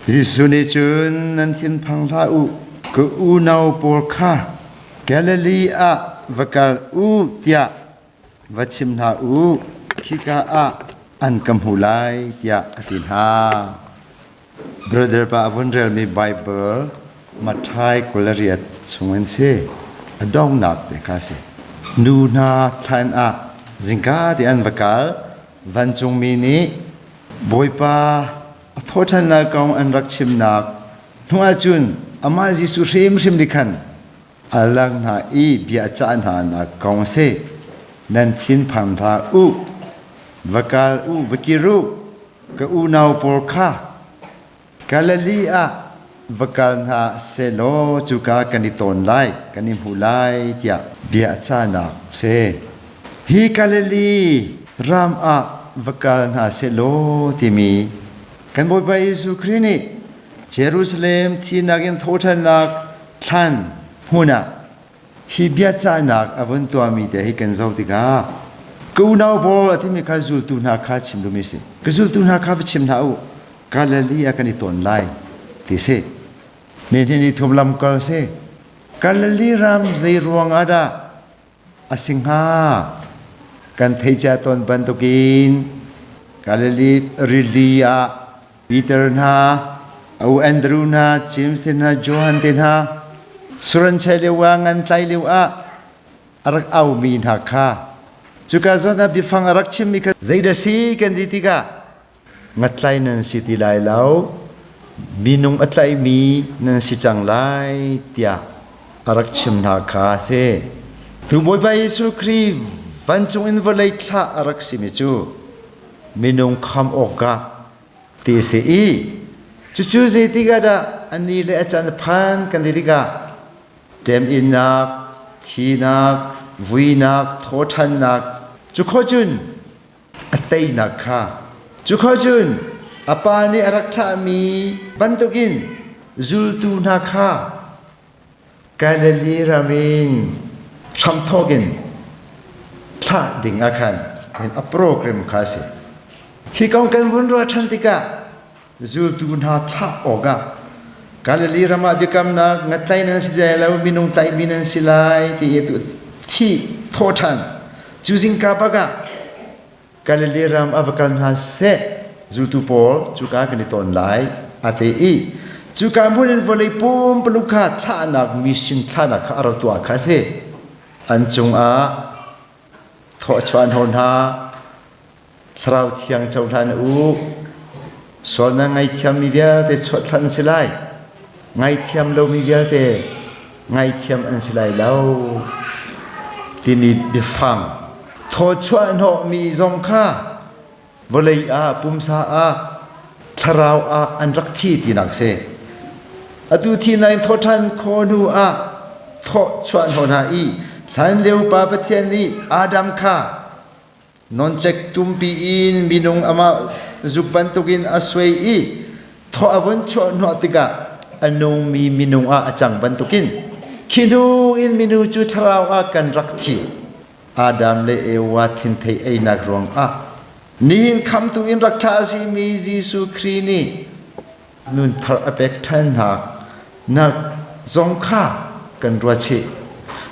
Jesuh nih cun, Nan thinphang hlah u, ka unau pawl kha Galilee ah va kal u tiah va chim hna u. Khika ah an ka hmu lai tiah a ti hna. Brother pa a vun relmi Baibal Matthai kul a riat chungin si. A donghnak te kha a si. Nu hna thlan ah zingka tein an va kal. Vancungmi nih Bawipa a thawhṭhannak kong an rak chimnak hnuah cun amah Jesuh hrimhrim nih khan a lak hna i bia a cah hnanak kong a si. Nan thinphang hlah u, va kal u, va kir u, ka unau pawl kha. Galilee ah va kal hna sehlaw cuka kan i tawn lai, kan i hmuh lai tiah bia a cahnak a si. Hi Galilee ram ah va kal hna sehlaw timi kan Bawipa Jesuh Khrih nih Jerusalem thih nakin thawhṭhannak thlan hmun ah Hi biacahnak a vun tuahmi te hi kan zoh tikah kunau pawl a timi kha zultu hna kha chim dumi a si. Ka zultu hna kha va chim hna u. Galilee ah kan i ton lai ti si. Nihin ni thuam lamkal si. Galilee ram zei ruangah dah a si hnga? Kan theicia tawn bantukin Galilee rili ah Peter hna, O Andrew hna, James hna, Johan te hna, suranchai lio ah ngan tlai lio ah a rak aumi hna kha cuka zawn ah biafang a rak chimmi kha zeidah si kan ti tikah ngatlai nan si ti lai lo minung a tlaimi nan si cang lai tiah a rak chim hna kha a si tu bawipa jesuh kri vancung in vawlei thlah a rak simi cu minung kham awkah te a si i cucu zeitikah dah a ni le a can a phan kan ti tikah ṭem-innak, thihnak, vuinak, thawhṭhannak cukhor cun a teinak kha cukhor cun a Pa nih a rak thlahmi bantukin zultu hna kha Galilee ram in hramthawk in thlah ding ah khan hin a program kha a si. Hi kong kan vun ruah ṭhan tikah zultu hna thlah awkah Galilee ram ah biakamnak nga tlai nan si lai lo minung tlaihmi nan si lai ti i thih thawh ṭhan cu zingka bak ah Galilee ram a va kal hna seh, zultu pawl cuka kan i ton lai, a ti i cuka hmun in vawlei pumpaluk kha thlahnak mising thlahnak kha a rak tuah kha a si. An cungah thawchuah an hon hna. Thlarau thiang cohlan u. Sual nan ngaithiam mi vialte chuahthlan si lai. Ngaithiam lomi vialte ngaithiam an si lai lo timi biafang thawchuah hnawhmi zong kha vawlei ah pumsa ah thlarau ah an rak thi tinak si atu thi na in thawṭhan khaw hnu ah thawchuah hnawh hna i hlan lio pa Pathian nih Adam kha Noncek tumpi in minung amah zuk bantukin a suai i thaw a vun chuahhnawh tikah a nungmi minung ah a cang bantukin khi hnu in minu cu thlarau ah kan rak thi. Adam le Eva thinthei einak ruangah nihin khamtu in rak thlah a simi Jesuh Khrih nih nunthar a pek ṭhan hna. Nalh zong kha kan ruat chih.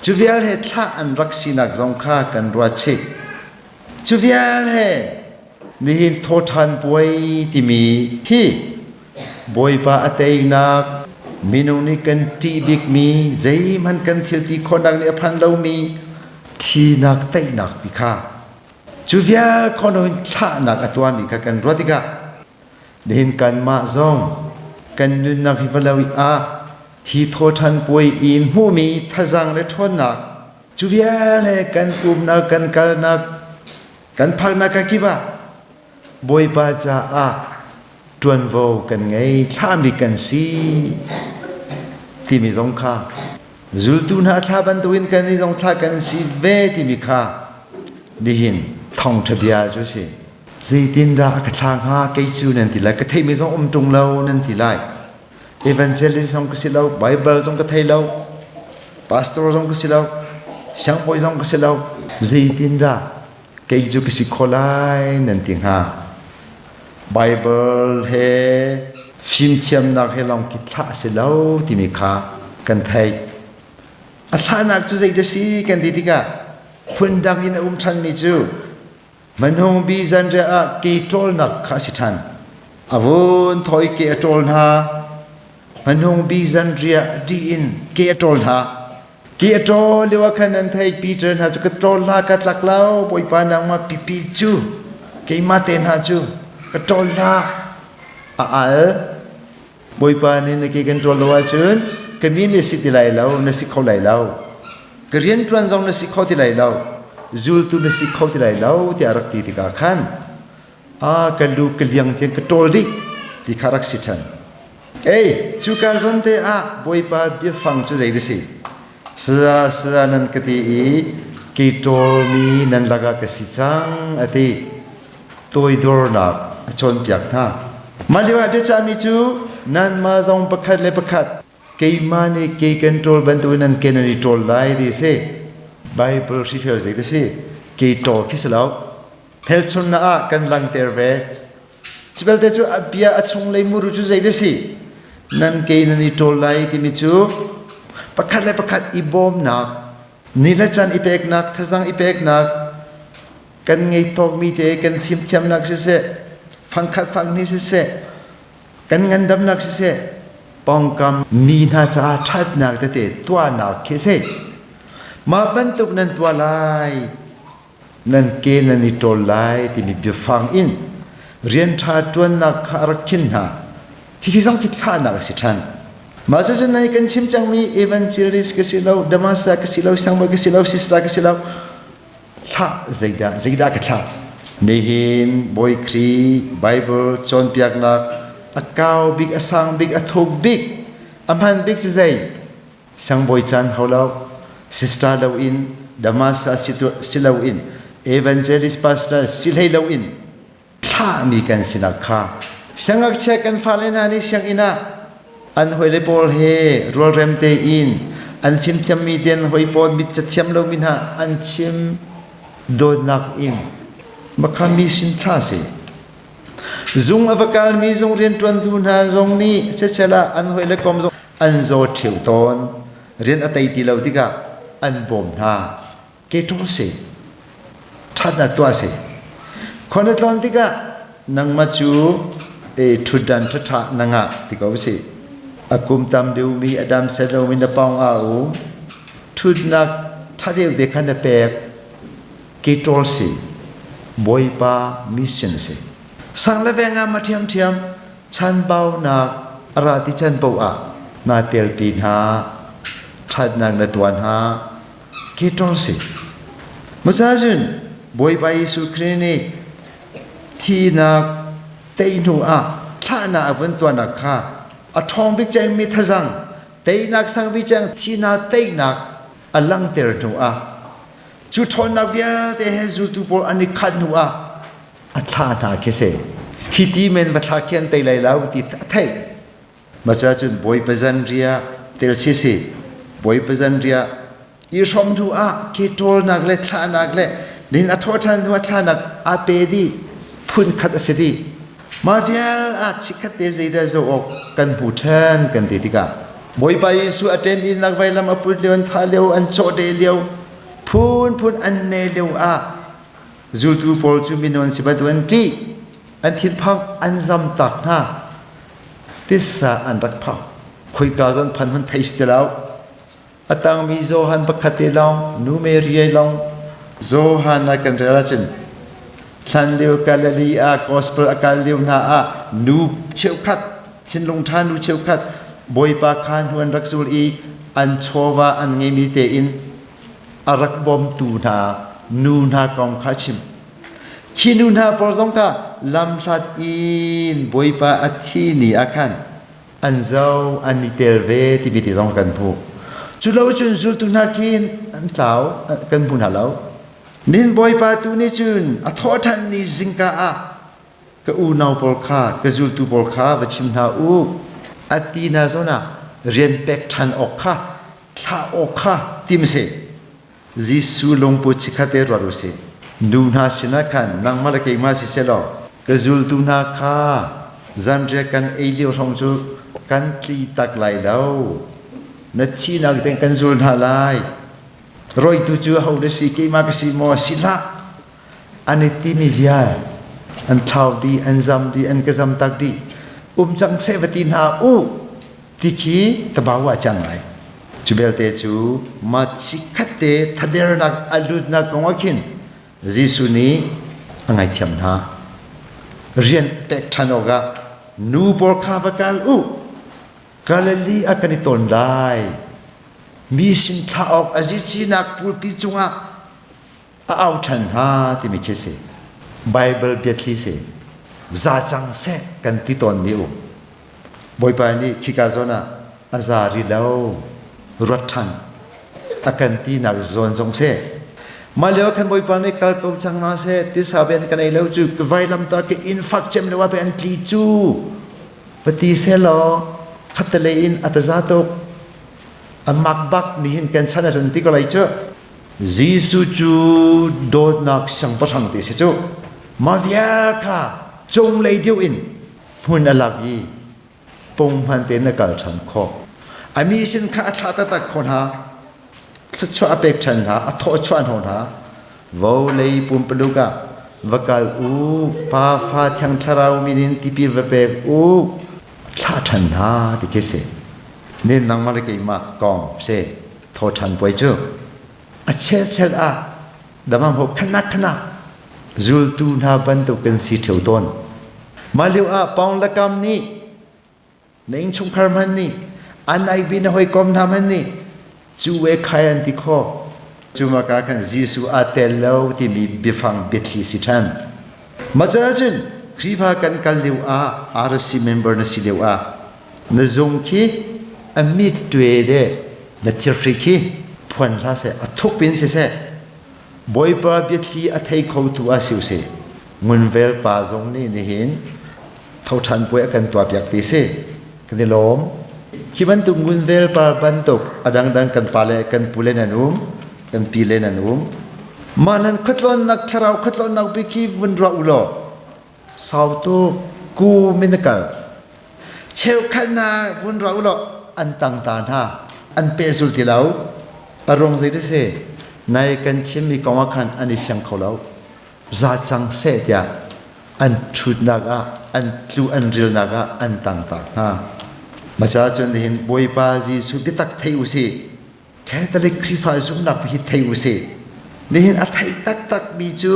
Cu vial he thlah an rak sinak zong kha kan ruat chih. Cu vial he nihin thawṭhan puai timi thi Bawipa a teinak minung nih kan ṭih bikmi zeihmanh kan thil ti khawhnak nih a phan lomi thinak teinak pi kha cu vial khawhnak in thlahnak a tuahmi kha kan ruat tikah Nihin kanmah zong kan nunnak hi va lo ah hi thawṭhan puai i in hmuhmi thazaang le ṭhawnnak cu vialte kan umnak kan kalnak kan phaknak ka kip ah Bawipa caah ṭuanvo kan ngei thlahmi kan si timi zong kha zultu hna a thla bantukin kannih zong thla kan si ve timi kha nihin thawngṭha bia cu a si zeitindah a ka thla hnga kei cu nan ti lai ka theimi zong um ṭung lo nan ti lai evangelist zong ka si lo bible zong ka thei lo pastor zong ka si lo siangbawi zong ka si lo zeitindah kei cu ka si kho lai nan ti hnga. Baibal he fimthiamnak he lawng khi thlah a si lo timi kha kan theih. A thlahnak cu zeidah si kan ti tikah phundang in a um ṭhanmi cu hmanung bi zanriah ah ke ṭawlnak kha a si ṭhan. A vun thoi ke a ṭawl hna. Hmanung bi zanriah dih in ke a ṭawl hna. Ki a ṭaw lio ah khan an theih Peter hna cu ka ṭawl hla ka tlak lo Bawipa nangmah pipi cu keimah te hna cu ka ṭawl hla a al Bawipa nih na ke kan ṭawl lo ahcun ka mi nih si ti lai lo na si kho lai lo ka rianṭuan zong na si kho ti lai lo zultu na si kho ti lai lo tiah a rak ti tikah khan a ka lu ka liang tiang ka ṭawl dih ti kha rak si ṭhan. Ei, cuka zawn te ah Bawipa biafang cu zei na si? Saya, saya nan ka ti i kei ṭawlmi nan lakah ka si cang, a ti. Toidornak a cawnpiak hna. Mah lioah biachahmi cu nanmah zong pakhat le pakhat keimah nih kei kan ṭawl bantukin nan ke nan i ṭawl lai ti a si. Baibal hrifel zeidah a si? Kei ṭawl khi si lo. Hmelchunnak ah kan langter ve. Cu belte cu bia a chunglei muru cu zei na si? Nan ke nan i ṭawl lai timi cu pakhat le pakhat i bawmnak, ni le can i peknak, thazang i peknak, kan ngei tawkmi te kan fimthiamnak siseh, fangkhat fangni siseh, kan ngandamnak siseh, pawngkam mi hna caah ṭhatnak tete tuahnak khi si. Mah bantuk nan tuah lai nan ke nan i ṭawl lai timi biafang in rian ṭha ṭuannak kha a rak khin hna. Hihi zong khi thlahnak a si ṭhan. Mah cucu nai kan chim cangmi evangelist ka si lo, damaska ka si lo, sangbawi ka si lo, sisra ka si lo, thlah zeidah zeidah ka thlah? Nihin Bawi Khrih Baibal cawnpiaknak a kau bik, a sang bik, a thuk bik, a hman bik cu zei? Sang bawi caan hau lo, sister lo in, Damascus si loin, evangelist pastor si hlei loin, thlahmi kan sinak kha siangngakchia kan fale hna nih sianginn ah an hawile pawl he rualrem tein an fimthiammi den hoi pawl mit cathiam lomi hna an chim dawtnak in makhami sin tha si zung a va kalmi zung rianṭuantu hna zong nih cecel ah an hawile kom zong an zaw ṭheu tawn, rian a tei ti lo tikah an bawm hna. Ke ṭung si, ṭhat na tuah si. Khon na tlon tikah nangmah cu e ṭhutdan ṭhaṭha na ngah ti ko si. A kum tam deuhmi a dam set lomi na pong a u. Ṭhutnak ṭha deuh te khan na pek. Ke ṭol si, Bawipa mission si. Sang le veng ah ma ṭhiamṭhiam Chanbaunak a ra ti can paoh ah nai pialpi hna. Ṭhatnak na tuan hna. Ki ṭong si. Muca cun Bawipa Jesuh Khrih nih thinak tei hnu ah thlahnak a vun tuanak kha a ṭhawng bik ceng mi thazang teinak sang bik ceng thihnak teinak a langhter hnu ah cu ṭhawnnak vialte he zultu pawl an i khat hnu ah a thla hna khi se khi ti men va thla khi an tei lai lo ti a theih ma cha cun bawi pazan ria tel si si bawi pazan ria i hrom thu ah khi ṭawlnak le thlahnak le nin a thaw ṭhan hnuah thlahnak a pe di phun khat a si di ma vial a chikhat te zeidah zo awk kan hmu ṭhan kan ti tikah bawipa Jesuh a ṭem in nak vailam a put lio an thah lio an chaw de lio phun phun an ne lio ah Zultu pawl cu minu an si bantuk an ṭih, an thinphang, an zamtak hna. Tissa an rak phang. Khoika zong phan hun thei ti lo. A tangmi Johan pakhat te lawng, nu Mary lawng Johan ah kan rel ahcun hlan lio Galilee ah gospel a kal lio hna ah nu cheukhat, thinlung ṭha nu cheukhat Bawipa kha hnu an rak zul i an chawva an ngeimi tein a rak bawmtu hna nu hna kong kha chim khi nu hna pawl zong kha lamhlat in bawipa a thi ni ah khan an zo an i tel ve tivi ti zong kan hmuh cu lo cun zultu hna khin an tlau kan hmu hna lo nin bawipa tu nih cun a thawhthan ni zingka ah ka unau pawl kha ka zultu pawl kha va chim hna u a ti hna zawn ah rian pek ṭhan awk kha thlah awk kha tim seh Jesuh lungput chikkhat e ruat u sih nu hna sinah khan nangmah le keimah si selaw ka zultu hna kha zanriah kan ei lio hrawng cu kan tli tak lai lo na thihnak tiang kan zul hna lai roitu cu ho na si keimah ka si maw si hlah an i timi vial an thau di an zam di an ka zam tak di um cang se va ti hna u ti khi tabau a cang lai cu belte cu ma chikhat te thadernak a lutnak kong khin Jesuh nih a ngaithiam hna rian pek ṭhan awkah nu pawl kha va kal u Galilee ah kan i ton lai mi sin thlah awk a zicinak pulpi cungah a au ṭhan hnga timi khi si Baibal biathli si za cang seh kan ti tawnmi um Bawipa nih khika zawn ah a za ri lo ruat ṭhan a kan ti nak zawn zong si mah lio khan bawipa nih kal ko cang na se tisa ven kan ei lo cu ka vailam ta ke in fak chem le wa pe an tli cu pati se lo khatte le in ataza tuk amak bak ni hin kan chan a san ti ko lai cu Jesuh cu dawtnak siangpahrang te si cu mah vial kha cunglei deuh in hmun a lak i pung hman tein a kal ṭhan khawh. A mi sin kha a thlah taktak kho hna, thluachuah a pek ṭhan hna, a thawhchuah hna hna. Vawlei pumpaluk ah va kal u, Pa fa thiang thlarau min in tipil va pek u, thlah ṭhan hna ti khi a si. Nen nangmah le keimah kong a si. Thawṭhan puai cu a chelchel ah damaho khanat khanat zultu hna bantuk in si ṭheu tawn. Mah lio ah Paung le Kam nih na innchungkhar hmanh nih an aibi na hawikom hna hmanh nih cu we khai an ti kho. Cu maka kan Jesuh a tel lo timi biafang biathli si ṭhan. Mah caah cun Khrihfa kan kal lio ah RC member na si lio ah Na zung khi a mit ṭue le na thirhri khi phuan hlah seh, a thup in siseh, Bawipa biathli a thei khotu ah si usih, ngunvel pa zong nih nihin thoṭhan puai a kan tuahpiak ti si. Kan i lawm. Hi bantuk ngunvel pa bantuk a dangdang kan pale, kan pule nan um, kan pile nan um. Mah nan khuatlawnnak thlarau khuatlawnnak bik hi vun ra u law, Sautu ku min na kal. Cheukhatnak vun ro law an tang ta hna an pehzul ti lo. A rung zei si nai kan chimmi kongah khan an i fiang kho lo. Za cang seh tiah an ṭhutnak ah an tlu an rilnak ah an tang ta hna. Maca cun nihin Bawipa Jesuh biatak thei u sih. Catholic Khrihfa zumhnak hi thei u sih. Nihin a theih taktakmi cu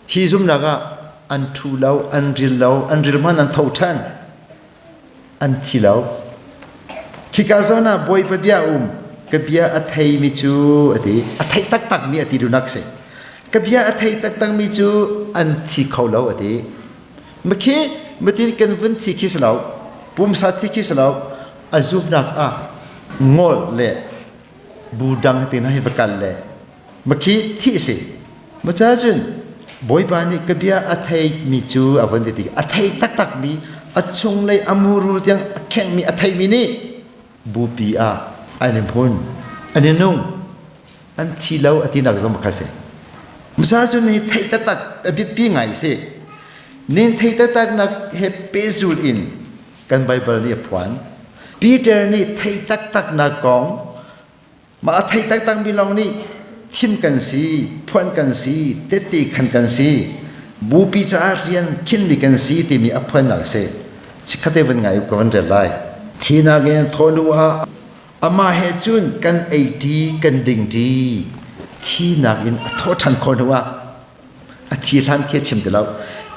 hi zumhnak ah an ṭhu lo, an ril lo, an ril hman an tho ṭhan. An thi lo. Khika zawn ah bawi pabia um ka bia a theimi cu a ti a theih taktakmi a ti dunak si. Ka bia a theih taktakmi cu an thi kho lo a ti. Makhi matin kan vun thi khi si lo, pumsa thi khi si lo, a zumnak ah ngol le budang ti na hi va kal le ma khi thi si ma cha cun bawipa nih ka bia a thei mi cu a von ti a thei taktak mi a chung lei a murul tiang a kheng mi a thei mi nih bupi ah an in hun an in nung an thi lo a ti nak zong kha si masa cu ni thei taktak a bipi ngai si nin thei taktak nak he pezul in Kan Baibal nih a phuan. Peter nih thei taktaknak kong mah a thei taktakmi lawng nih thim kan si, phuan kan si, tette khan kan si, bupi caah rian khinmi kan si timi a phuannak a si. Chikkhatte van ngai u ka van rel lai. Thinak in thawnu ah amah he cun kan ei ṭi, kan ding ṭi, thinak in a thawh ṭhan khawh hnu ah A thi hlan khi a chim ti lo.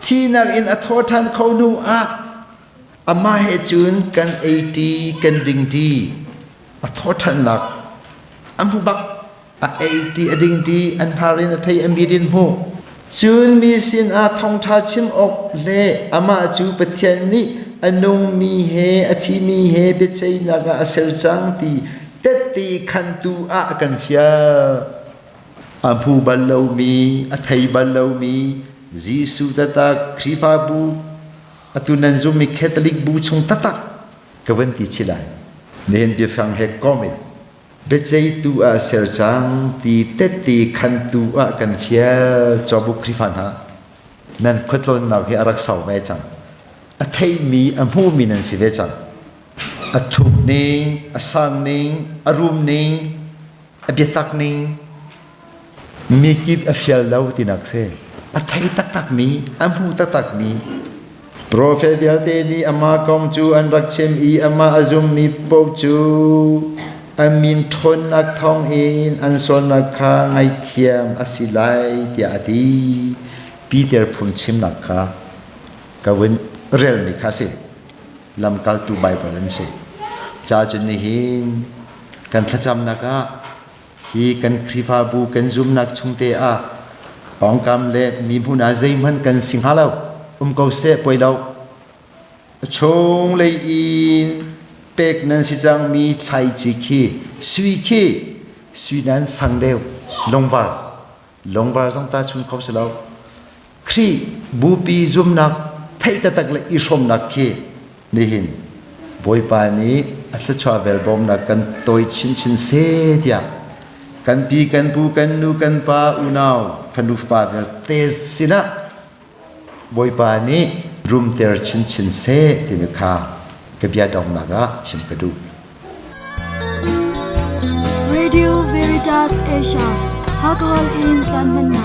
Thinak in a thaw ṭhan kho hnu ah amah he cun kan ei ṭi, kan ding ṭi. A thaw ṭhannak a hmu bak. A ei ṭi, a ding ṭi, an hnar in a thei, a mit in hmuh. Cun mi sinah thawngṭha chim awk le amah cu Pathian nih a nungmi he a thimi he biaceihnak ah a ser cang ti tette khantu ah a kan fial. A hmu bal lomi, a thei bal lomi Jesuh taktak Khrihfabu, atu nan zummi Catholic bu chung taktak ka van ti chih lai. Nihin biafang he comment biaceitu ah ser cang ti tette khantu ah kan fial cobu Khrihfa hna nan khuatlawnnak hi a rak sau ve cang a theimi a hmumi nan si ve cang a thuk ning a sang ning a rum ning a biatak ning mi kip a fial lo tinak si a thei taktakmi a hmu taktakmi profet vialte nih amah kong cu an rak chim i amah a zummi poh cu an min ṭhawnnak thawng in an sualnak kha ngaihthiam a si lai tiah a ti Peter phun chimnak kha ka vun relmi kha si lamkaltu Baibal an si. Cacun nihin kan thlacamnak ah hi kan Khrihfabu kan zumnak chungte ah pawngkam le mihmun ah zeihmanh kan si hnga lo. Um ko seh poi lo. Chung lei in pek nan si cangmi thlaici khi sui khi sui nan sang deuh lungvar longvar zong ta chung kho si lo Khrih bupi zumnak thei tatak le i hrawmnak khi nihin Bawipa nih a thluachuah vel bawmnak kan toi chinchin se tiah kan pi kan pu kan nu kan pa unau fanu fapa vialte sinah Bawipa nih rumter chinchin seh timi kha ka bia dongnak ah chim ka duh. Radio Veritas Asia, Hakol in Chan Manna.